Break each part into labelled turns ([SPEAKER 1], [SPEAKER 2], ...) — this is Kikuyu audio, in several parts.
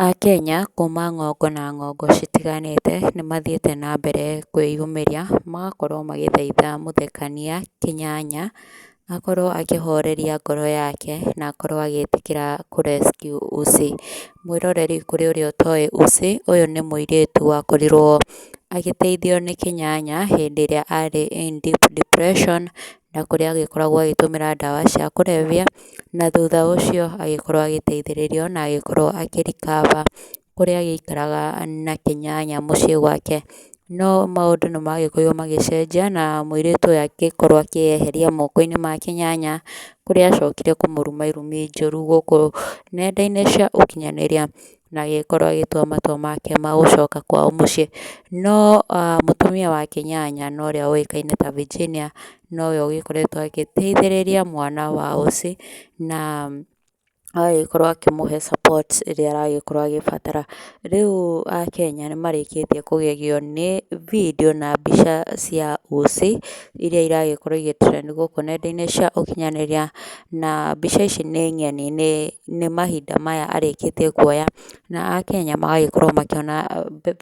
[SPEAKER 1] Akenya kuma ng'ongo na ng'ongo citiganĩte nĩ mathiĩte na mbere kwĩyumĩria magakorwo magĩthaitha mũthekania Kĩnyanya akorwo akĩhoreria ngoro yake na akorwo agĩtĩkĩra kũ rescue Usi. Mwĩroreri kũrĩ ũrĩa ũtoĩ Usi ũyũ nĩ mũirĩtu wakorirwo agĩteithio nĩ Kĩnyanya hĩndĩ ĩrĩa arĩ in deep depression na kũrĩa agĩkoragwo agĩtũmĩra ndawa cia kũrebia, na thutha ũcio agĩkorwo agĩteithĩrĩrio na agĩkorwo akĩ recover kũrĩa agĩikaraga na Kĩnyanya mũciĩ gwake. No maũndũ nĩ magĩkorirwo magĩcenjia na mũirĩtu ũyũ agĩkorwo akĩyeheria moko-inĩ ma Kĩnyanya, kũrĩa acokire kũmũruma irumi njũru gũkũ nenda-inĩ cia ũkinyanĩria. na agĩkorwo agĩtua matua make ma gũcoka kwao mũciĩ. No mũtumia wake nyanya na ũrĩa ũĩkaine ta Virginia nowe ũgĩkoretwo agĩteithĩrĩria mwana wa ũciĩ na agagĩkorwo akĩmũhe support ĩrĩa aragĩkorwo agĩbatara. Rĩu Akenya nĩ marĩkĩtie kũgegio nĩ video na mbica cia ũciĩ. iria iragĩkorwo igĩ trend gũkũ nenda-inĩ cia ũkinyanĩria, na mbica ici nĩ ng'eni nĩ mahinda maya arĩkĩtie kuoya na akenya magagĩkorwo makĩona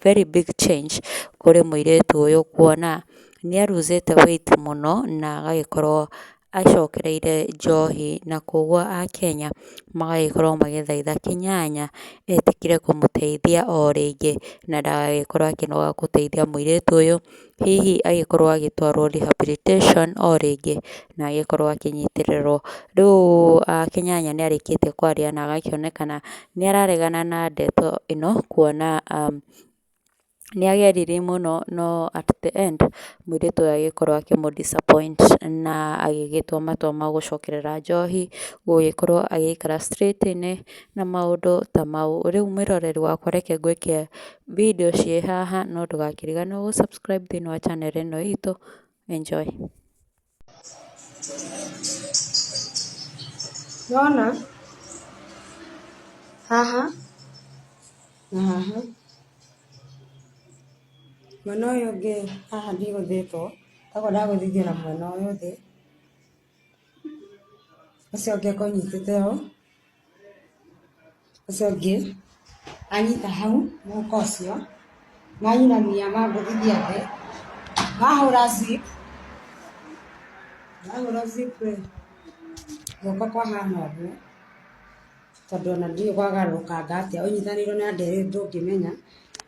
[SPEAKER 1] very big change kũrĩ mũirĩtu ũyũ kuona nĩ a lose te weight mũno na agagĩkorwo acokereire njohi na kũguo akenya magagĩkorwo magĩthaitha Kĩnyanya etĩkĩre kũmũteithia o rĩngĩ na ndagagĩkorwo akĩnoga gũteithia mũirĩtu ũyũ. hihi agĩkorwo agĩtwarwo rehabilitation o rĩngĩ na agĩkorwo akĩnyitĩrĩrwo. Rĩu Kĩnyanya nĩ arĩkĩtie kwaria na agakĩonekana nĩ araregana na ndeto ĩno kuona nĩ ageririe mũno no at the end mũirĩtu ũyũ agĩkorwo akĩmũ disappoint na agĩgĩtua matua ma gũcokerera njohi, gũgĩkorwo agĩikara straight inĩ na maũndũ ta mau. Rĩu mwĩroreri wakwa reke ngwĩke video ciĩ haha no ndũgakĩriganĩrwo gũ subscribe thĩinĩ wa channel ĩno itũ enjoy
[SPEAKER 2] Nona haha na haha mwena ũyũ ũngĩ haha ndigũthĩtwo koguo ndagũthithio na mwena ũyũ thĩ. ũcio ũngĩ akorwo anyitĩte ũũ ũcio ũngĩ anyita hau mũhuko ũcio manyinamia mangũthithia thĩ mahũra zip mahũra zip rĩ guoko kwahana ũguo tondũ ona ndiũĩ gwagarũrũkanga atĩa ũnyitanĩirwo na nderũ ndũngĩmenya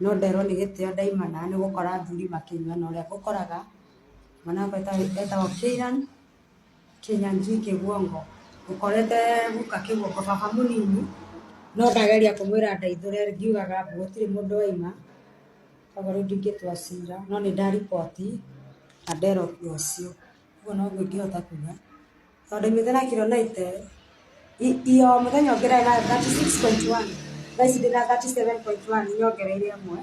[SPEAKER 2] no nderwo nĩ gĩtĩo ndaima na nĩ gũkora athuri makĩnyua na ũrĩa ngũkoraga Mwanangwa etagwo Keiran, Kĩnyanjui Kĩguongo. Ũkorete guka Kĩguongo baba mũnini, no ndageria kũmwĩra andeithũre ngiugaga mbu gũtirĩ mũndũ waima, koguo rĩu ndingĩtua cira, no nĩ nda report na nderwo ũndũ ũcio. Ũguo noguo ingĩhota kuga. tondũ imĩte na kiro 90 i- iyo mũthenya ũngĩ ndari na 36.1 thaa ici ndĩ na 37.1 nyongereire ĩmwe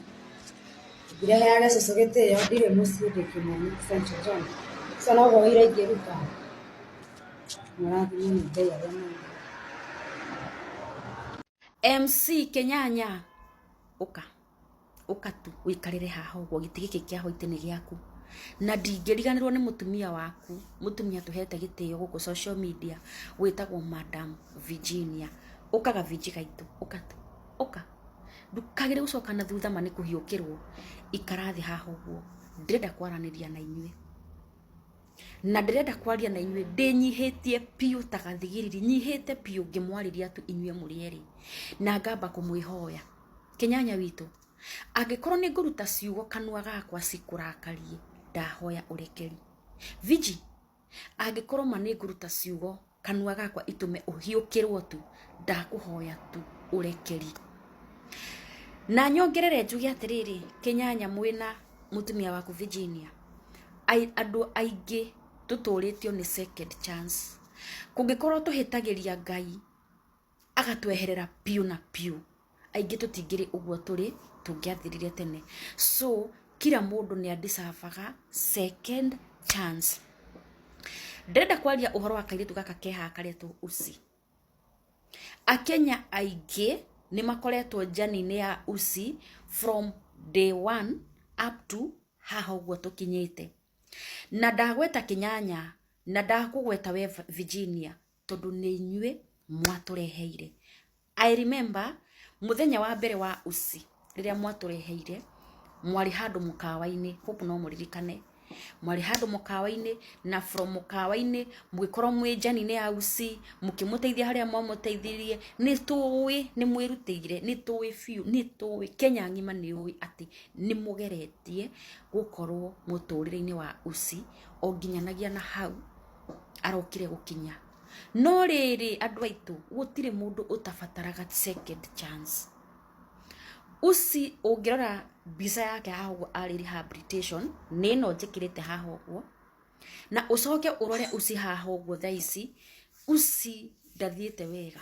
[SPEAKER 2] ndireheage cũcũ gĩtĩo ndirĩ mũciĩ ndĩ kĩmoni St. John so noguo wĩira ingĩruta mũrathimwo nĩ ngai arĩa mũĩ
[SPEAKER 3] mc kenyanya ũka ũka tu ũikarĩre haha ũguo gĩtĩ gĩkĩ kĩa hwaitĩ nĩ gĩaku na ndingĩriganĩrwo nĩ mũtumia waku mũtumia tũhete gĩtĩo gũkũ social media wĩtagwo madam virginia ũkaga vinji gaitũ ũka tu ũka ndukagĩrĩ gũcoka na thutha ma nĩ kũhiũkĩrwo ikara thĩ haha ũguo ndĩrenda kwaranĩria na inyuĩ na ndĩrenda kwaria na inyuĩ ndĩnyihĩtie biũ ta gathigiriri nyihĩte biũ ngĩmwarĩria tu inyuĩ mũrĩ erĩ na ngamba kũmwĩhoya kĩnyanya witũ angĩkorwo nĩ ngũruta ciugo kanua gakwa cikũrakarie ndahoya ũrekeri viji angĩkorwo ma nĩ ngũruta ciugo Kanua gakwa itũme ũhiũkĩrwo tu, ndakũhoya tu ũrekeri. Na nyongerere njuge atĩrĩrĩ, kĩnyanya mwĩna mũtumia waku Virginia, andũ aingĩ tũtũrĩtio nĩ second chance. Kũngĩkorwo tũhĩtagĩria Ngai, agatweherera biũ na biũ aingĩ tũtingĩrĩ ũguo tũrĩ tũngĩathirire tene so kira mũndũ nĩ andicabaga second chance ndĩrenda kwaria ũhoro wa kairĩtu gaka keha karetwo usi akenya aingĩ nĩ makoretwo njani-inĩ ya usi from day one up to haha ũguo tũkinyĩte na ndagweta kĩnyanya na ndakũgweta we virginia tondũ nĩ inyuĩ mwatũreheire i remember mũthenya wa mbere wa usi rĩrĩa mwatũreheire mwarĩ handũ mũkawa-inĩ hope no mũririkane mwarĩ handũ mũkawa-inĩ na from mũkawa-inĩ mũgĩkorwo mwĩ njani nĩ ya usi mũkĩmũteithia harĩa mwamũteithirie nĩ tũĩ nĩ mwĩrutĩire nĩ tũĩ biũ nĩ tũĩ kenya ng'ima nĩ ũĩ atĩ nĩ mũgeretie gũkorwo mũtũrĩre-inĩ wa usi o nginyanagia na hau arokire gũkinya no rĩrĩ andũ aitũ gũtirĩ mũndũ ũtabataraga second chance usi ũngĩrora mbica yake haha ũguo arĩ rehabilitation nĩ ĩno njĩkĩrĩte haha ũguo na ũcoke ũrore usi haha ũguo thaa ici usi ndathiĩte wega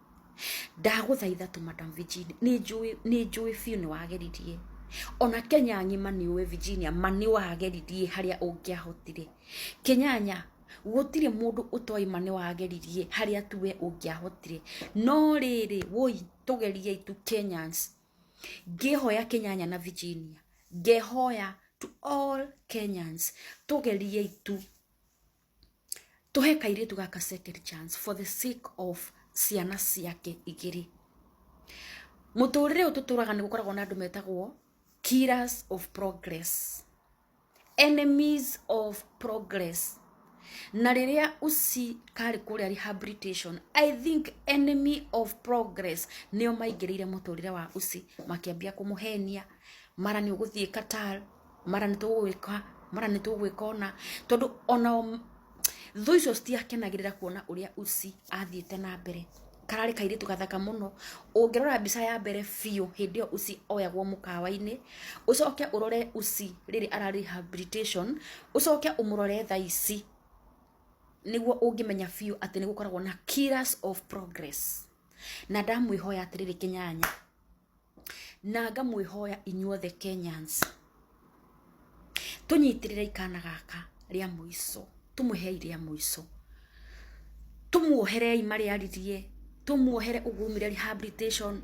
[SPEAKER 3] ndagũthaitha tu madam virginia nĩ njũĩ nĩ njũĩ biũ nĩ wageririe ona kenya ng'ima nĩ ũĩ virginia ma nĩ wageririe harĩa ũngĩahotire kenyanya gũtirĩ mũndũ ũtoĩ ma nĩ wageririe harĩa tuwe ũngĩahotire no rĩrĩ woi tũgeriei tu kenyans ngĩhoya kenyanya na virginia ngehoya to all kenyans tũgeriei tu Tũhe kairĩtu gaka second chance for the sake of ciana ciake igĩrĩ. Mũtũrĩre ũyũ tũtũraga nĩ gũkoragwo na andũ metagwo killers of progress, enemies of progress. Na rĩrĩa usi karĩ kũrĩa rehabilitation, I think enemy of progress nĩo maingĩrĩire mũtũrĩre wa usi makĩambia kũmũhenia, mara nĩ ũgũthiĩ Qatar, mara nĩ tũgwĩka mara nĩ tũgwĩka ona tondũ ona thũ icio citiakenagĩrĩra kuona ũrĩa usi athiĩte na mbere kararĩ kairĩtu gathaka mũno ũngĩrora mbica ya mbere biũ hĩndĩ ĩyo usi oyagwo mũkawa-inĩ ũcoke ũrore usi rĩrĩ ara rehabilitation ũcoke ũmũrore thaa ici nĩguo ũngĩmenya biũ atĩ nĩ gũkoragwo na killers of progress na ndamwĩhoya atĩrĩrĩ kĩnyanya Na ngamwĩhoya inyuothe Kenyans, tũnyitĩrĩrei kana gaka rĩa mũico, tũmũhei rĩa mũico. Tũmuoherei marĩa aririe, tũmuohere ũguo aumire rehabilitation,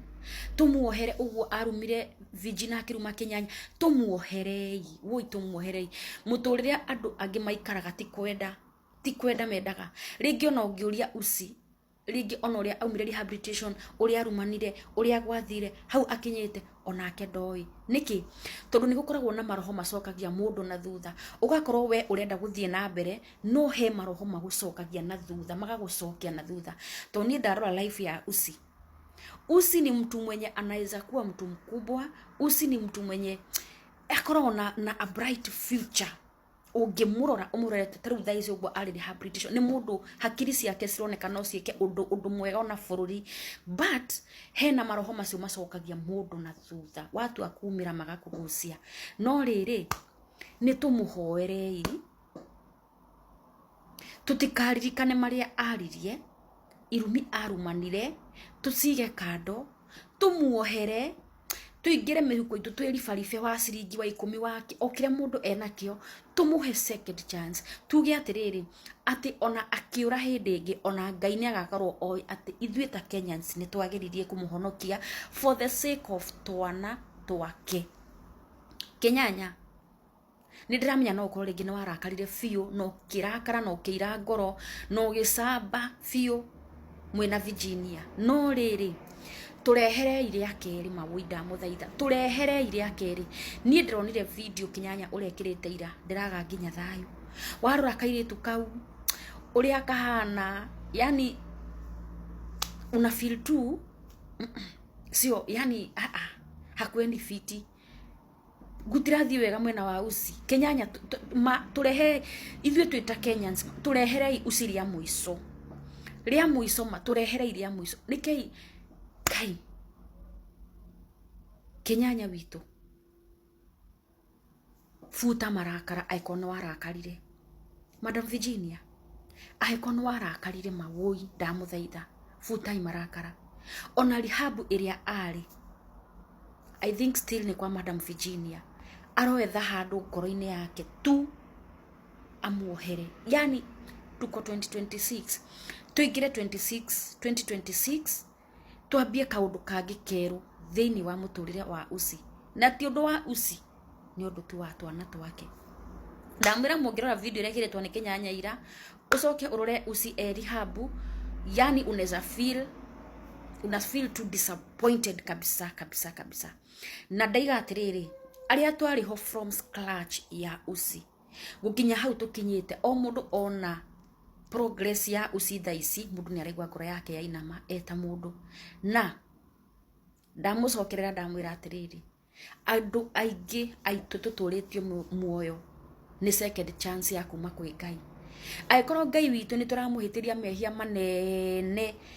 [SPEAKER 3] tũmuohere ũguo arumire Virginia akĩruma Kĩnyanya, tũmuoherei, woi tũmuoherei. Mũtũrĩre andũ angĩ maikaraga ti kwenda, ti kwenda mendaga. Rĩngĩ ona ũngĩũria Usi. rĩngĩ ona ũrĩa aumire rehabilitation ũrĩa arumanire ũrĩa gwathire hau akinyĩte onake ndoĩ nĩkĩ tondũ nĩgũkoragwo na maroho macokagia mũndũ na thutha ũgakorwo we ũrenda gũthiĩ na mbere no he maroho magũcokagia na thutha magagũcokia na thutha to niĩ ndarora life ya usi usi ni mtu mwenye anaweza kuwa mtu mkubwa usi ni mtu mwenye akoragwo na, na a bright future ũngĩmũrora ũmũrorete ta rĩu thaa ici ũguo arĩ rehabilitation nĩ mũndũ hakiri ciake cironeka no ciĩke ũndũ ũndũ mwega ona bũrũri but hena maroho macio macokagia mũndũ na thutha watua kumĩra magakũgucia no rĩrĩ nĩ tũmũhoerei tũtikaririkane marĩa aririe irumi arumanire tũcige kando tũmuohere tũingĩre mĩhuko itũ twĩribaribe wa ciringi wa ikũmi wa kĩ- o kĩrĩa mũndũ enakĩo tũmũhe second chance tuge atĩrĩrĩ atĩ ona akĩũra hĩndĩ ĩngĩ ona ngai nĩ agakorwo oĩ atĩ ithuĩ ta kenyans nĩ twagĩririe kũmũhonokia for the sake of twana twake kenyanya Nĩ ndĩramenya no ũkorwo rĩngĩ nĩ warakarire biũ na ũkĩrakara na ũkĩira ngoro na ũgĩcamba biũ mwĩna Virginia. No rĩrĩ, tũreherei rĩa kerĩ mawũi ndamũthaitha, tũreherei rĩa kerĩ. Niĩ ndĩronire video kĩnyanya ũrekĩrĩte ira, ndĩraga nginya thayũ. Warora kairĩtu kau ũrĩa kahana, yani una feel tu sio, yani aa, hakuendi fiti. gũtirathiĩ wega mwena wa usi kenyanya tu- tu- ma- tũrehe ithuĩ twĩ ta kenyans tũreherei usi rĩa mũico rĩa mũico ma tũreherei rĩa mũico nĩkei kai kenyanya witũ buta marakara aĩkorwo nĩ warakarire Madam Virginia, angĩkorwo nĩ warakarire ma wũi ndamũthaitha full time marakara ona rehab ĩrĩa arĩ I think still nĩ kwa Madam Virginia aroetha handũ ngoro-inĩ yake tu amuohere yani tuko 2026 tuingire 26 2026 Twambie kaũndũ kangĩ kerũ thĩinĩ wa mũtũrĩre wa Usi, na ti ũndũ wa Usi, nĩ ũndũ tu wa twana twake. Ndamwĩra mũngĩrora video ĩrĩa ĩigĩrĩtwo nĩ Kĩnyanyaira, ũcoke ũrore Usi Elihabu, yani unaweza feel una feel too disappointed kabisa kabisa kabisa. Na ndaiga atĩrĩrĩ, arĩa twarĩ ho from scratch ya Usi, gũkinya hau tũkinyĩte o mũndũ ona progress ya uci thaa ici mũndũ nĩ araigua ngoro yake yainama eta mũndũ na ndamũcokerera ndamwĩra atĩrĩrĩ andũ aingĩ aitũ tũtũrĩtio mu- muoyo nĩ second chance ya kuma kwĩ ngai angĩkorwo ngai witũ nĩ tũramũhĩtĩria mehia manene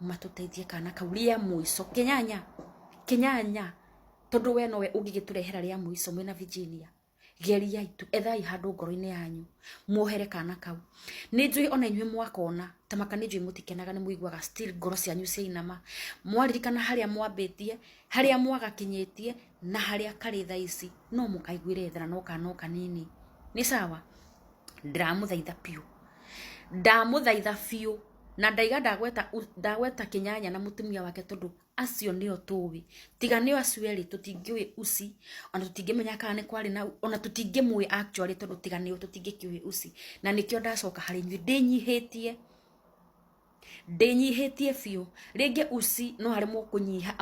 [SPEAKER 3] matũteithie kana kau rĩa mũico kĩnyanya kĩnyanya tondũ we nowe ũngĩgĩtũrehera rĩa mũico mwĩna virginia geriai tu ethai handũ ngoro-inĩ yanyu muohere kana kau nĩ njũĩ ona inyuĩ mwakona ta maka nĩ njũĩ mũtikenaga nĩ mũiguaga still ngoro cianyu ciainama mwaririkana harĩa mwambĩtie harĩa mwagakinyĩtie na harĩa karĩ thaa ici no mũkaiguĩre thara no kana o kanini nĩ sawa ndĩramũthaitha biũ ndamũthaitha biũ na ndaiga ndagweta ndagweta kinyanya na mutumia wake tondu acio nio tuwi tiga nio acio eri tutingiwi usi ona tutingimenya kana ni kwari na ona tutingimwi actually tondu tiga nio tutingikiwi usi na nikio ndacoka hari nyu ndinyihitie ndinyihitie biu ringi usi no hari mukunyiha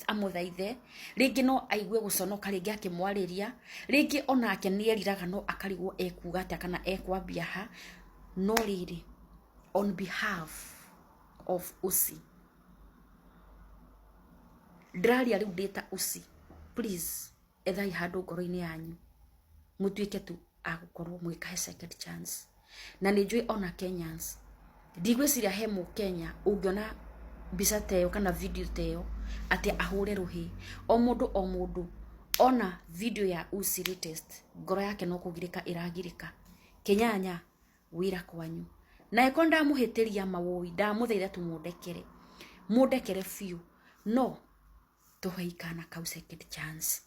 [SPEAKER 3] amuthaithe ringi no aigue guconoka ringi akimwariria ringi onake nieriraga no akarigwo ekuga atia kana ekwambia ha no riri on behalf of usi ndĩraria rĩu ndĩta usi please ethai handũ ngoro-inĩ yanyu mũtuĩke tu agũkorwo mũgĩkahe second chance na nĩ njũĩ ona kenyans ndigwĩciria he mũkenya ũngĩona mbica ta ĩyo kana video ta ĩyo atĩ ahũre rũhĩ o mũndũ o mũndũ ona video ya usi latest ngoro yake no kũgirĩka ĩragirĩka kenyanya wĩra kwanyu na eko ndamuhitiria mawoi ndamuthaitha tu mundekere mundekere biu no tuhei kana kau second chance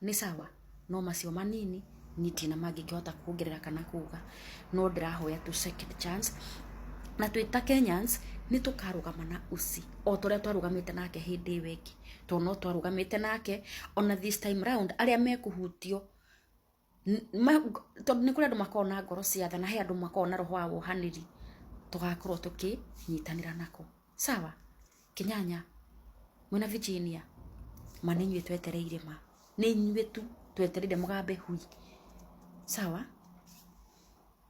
[SPEAKER 3] ni sawa no macio manini nitina mangĩkĩhota kuongerera kana kuga no ndĩrahoya tu second chance na twĩ ta kenyans nĩ tũkarũgama na usi o ta ũrĩa twarũgamĩte nake hĩndĩ ĩyo ĩngĩ tondũ no twarũgamĩte nake ona this time round arĩa mekũhutio tondũ nĩ kũrĩ andũ makoragwo na ngoro cia tha na he andũ makoragwo na roho wa wohanĩri tũgakorwo tũkĩnyitanĩra nako. Sawa? Kĩnyanya, mwĩna Virginia, ma nĩ inyuĩ twetereire ma. Nĩ inyuĩ tu twetereire mũgambe hui. Sawa?